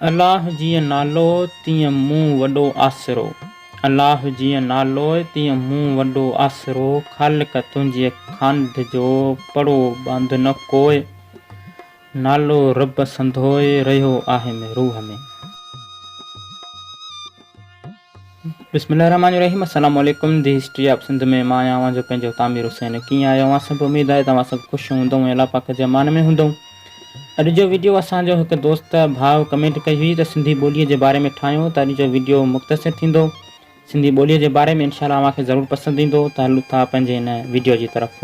الله جيئن نالو تيئن مون وڏو آسرو الله جيئن نالو تيئن مون وڏو آسرو خالق تنهنجي خانڌ جو پڙو ٻانڌ نه ڪوء نالو رب سندوء رهيو آهي م روح ۾. بسم الله الرحمٰن الرحيم السلام عليڪم دي هسٽري آف سنڌ ۾ مان آهيان اوهان جو پنهنجو تعمير حسين ڪيئن آهيو اوهان سڀ اميد آهي ته اوهان سڀ خوش هوندئو ۽ الله پاڪ جي امان ۾ هوندئو اڄ جو ويڊيو اسان جو هڪ دوست ڀاء ڪمينٽ ڪئي هئي ته سنڌي ٻولي جي باري ۾ ٺاهيو ته اڄ جو ويڊيو مختصر ٿيندو سنڌي ٻولي جي باري ۾ انشاء الله اوهان کي ضرور پسند ايندو ته هلون ٿا پنهنجي هن ويڊيو جي طرف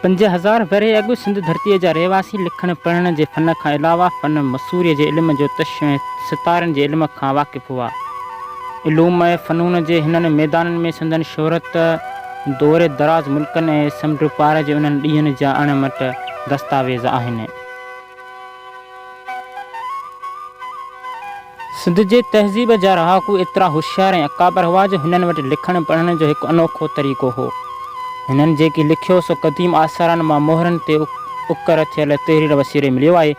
پنج هزار ورهيه اڳ سنڌ ڌرتيء جا رهواسي لکڻ پڙهڻ جي فن کان علاوه فن مصوريء جي علم جوتش ۽ ستارن جي علم کان واقف هئا. علوم ۽ فنون جي هنن ميدانن ۾ سندن شهرت دور دراز ملڪن ۽ سمنڊ پار جي انهن ڏينهن جا اڻ مٽ دستاويز آهن. سنڌ جي تهذيب جا رهاڪو ايترا هوشيار ۽ اڪابر هئا جو هنن وٽ لکڻ پڙهڻ جو هڪ انوکو طريقو هو. هنن جيڪي لکيو سو قديم آثارن مان مهرن تي اڪر ٿيل تحرير وسيلي مليو آهي.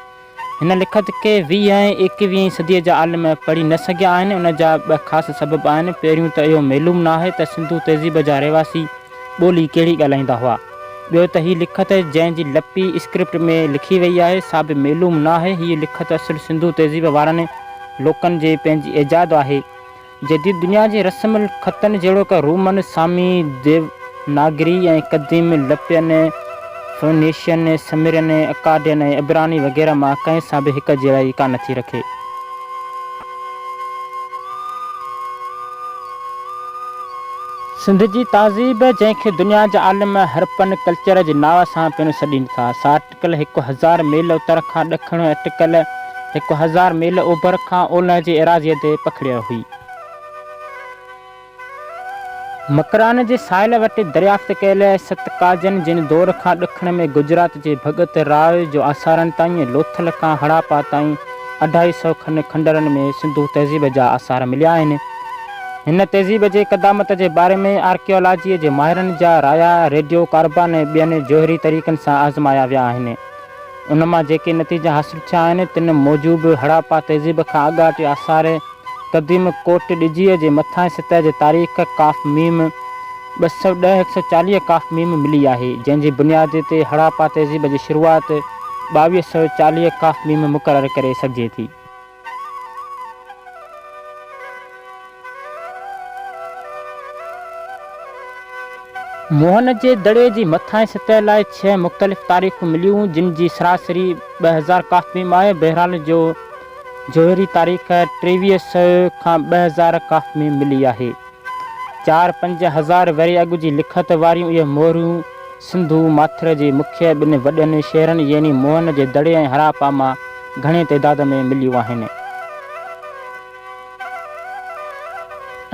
هن لکت کي ويهه ۽ ايڪويهين صديء جا عالم پڙهي نه سگهيا آهن. ان جا ٻه خاص سبب آهن. پهريون ته اهو معلوم ناهي ته سنڌو تهذيب جا رهواسي، ٻولي ڪهڙي ڳالهائيندا هئا. ٻيو ته هي لکت جنهن جي لپي اسڪرپٽ ۾ لکي وئي آهي سا به معلوم نه آهي. هيء لکت اصل سنڌو تهذيب وارن لوڪن جي پنهنجي ايجاد آهي. جديد دنيا جي رسم الخطن جهڙوڪ رومن، سامي، ديوناگري ۽ قديم لپين، فونيشين، سميرين، اڪادين ۽ عبراني وغيره مان ڪنهن سان به هڪجهڙائي ڪانه ٿي رکي. سنڌ جي تهذيب، جنهن کي دنيا جا عالم هرپن ڪلچر جي ناء سان پڻ سڏين ٿا، سا اٽڪل هڪ هزار ميل اتر کان ڏکڻ ۽ اٽڪل هڪ هزار ميل اوڀر کان اولهه جي ايراضيء تي پکڙيل هئي. مڪران جي ساحل وٽ دريافت ڪيل ست ڪاجن جن دور کان ڏکڻ ۾ گجرات جي ڀڳت راء جو آثارن تائين ۽ لوٿل کان هڙاپا تائين اڍائي سئو کن کنڊرن ۾ سنڌو تهذيب جا آثار مليا آهن. هن تهذيب جي قدامت جي باري ۾ آرڪيالاجيء جي ماهرن جا رايا ريڊيو ڪاربان ۽ ٻين جوهري طريقن سان آزمايا ويا آهن. ان مان جيڪي نتيجا حاصل ٿيا آهن، تن موجب هڙاپا تهذيب کان اڳاٽي آثار قديم ڪوٽ ڏجيء جي مٿانهين سطح جي تاريخ ڪاف ميم ٻه سؤ ڏهه هڪ سؤ چاليهه ڪاف ميم ملي آهي، جنهن جي بنياد تي هڙاپا تهذيب جي شروعات ٻاويهه سؤ چاليهه ڪاف ميم مقرر ڪري سگهجي ٿي. موهن جي دڙي جي مٿانهين سطح لاء ڇهه مختلف تاريخون مليون، جن جي سراسري ٻه هزار ڪافميم آهي. بحران جو جوهري تاريخ ٽيويهه سئو کان ٻه هزار ڪافميم ملي آهي. چار پنج هزار ورهيه اڳ جي لکت واريون اهي موريون سنڌو ماٿر جي مکيه ٻن وڏن شهرن يعني موهن جي دڙي ۽ هراپا مان گهڻي تعداد ۾ مليون آهن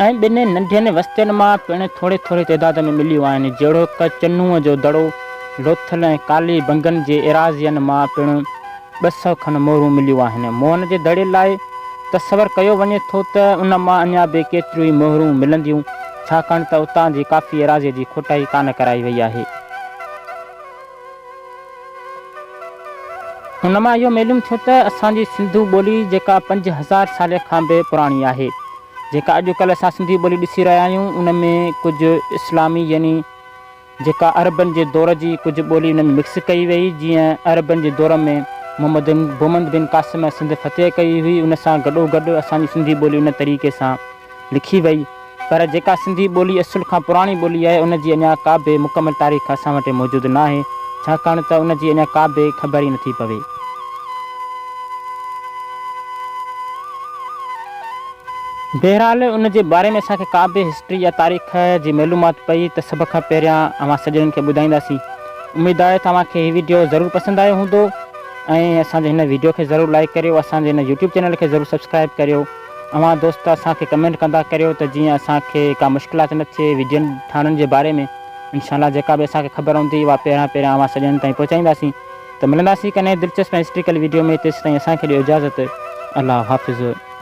۽ ٻن ننڍين وستين مان پڻ ٿوري ٿوري تعداد ۾ مليون آهن جهڙوڪ چنوء جو دڙو لوٿل ۽ ڪالي بنگن جي ايراضين مان پڻ ٻه سؤ کن مورون مليون آهن. موهن جي دڙي لاء تصور ڪيو وڃي ٿو ته ان مان اڃا به ڪيتريون ئي مهرون ملنديون، ڇاڪاڻ ته اتان جي ڪافي ايراضيء جي کوٽائي ڪانه ڪرائي وئي آهي. ان مان اهو معلوم ٿيو ته اسان جي سنڌو ٻولي جيڪا پنج هزار سالين کان به پراڻي آهي، جيڪا اڄڪلهه اسان سنڌي ٻولي ڏسي رهيا آهيون، ان ۾ ڪجهه اسلامي يعني. جيڪا عربن جي دور جي ڪجهه ٻولي ان ۾ مڪس ڪئي ويئي، جيئن عربن جي دور ۾ محمد بومند بن قاسم ۽ سنڌ فتح ڪئي هئي، ان سان گڏوگڏ اسان جي سنڌي ٻولي ان طريقي سان لکي ويئي، پر جيڪا سنڌي ٻولي اصل کان پراڻي ٻولي آهي، ان جي اڃا ڪابه مڪمل تاريخ اسان وٽ موجود ناهي، ڇاڪاڻ ته ان جي اڃا ڪابه خبر ئي نٿي پوي. بهرحال ان جي باري ۾ اسان کي ڪا به هسٽري يا تاريخ جي معلومات پئي ته سڀ کان پهريان اوهان سڄڻن کي ٻڌائينداسين. اميد آهي ته اوهان کي هي وڊيو ضرور پسند آيو هوندو ۽ اسان جي هن وڊيو کي ضرور لائيڪ ڪريو اسان جي هن يوٽيوب چينل کي ضرور سبسڪرائيب ڪريو اوهان دوست اسان کي ڪمينٽ ڪندا ڪريو ته جيئن اسان کي ڪا مشڪلات نه ٿئي وڊين ٺاهڻن جي باري ۾ انشاء الله جيڪا به اسان کي خبر هوندي اوها پهريان پهريان اوهان سڄڻن تائين پهچائينداسين ته ملنداسين ڪنهن دلچسپ ۽ هسٽريڪل وڊيو ۾ تيسين تائين اسان کي ڏيو اجازت الله حافظ.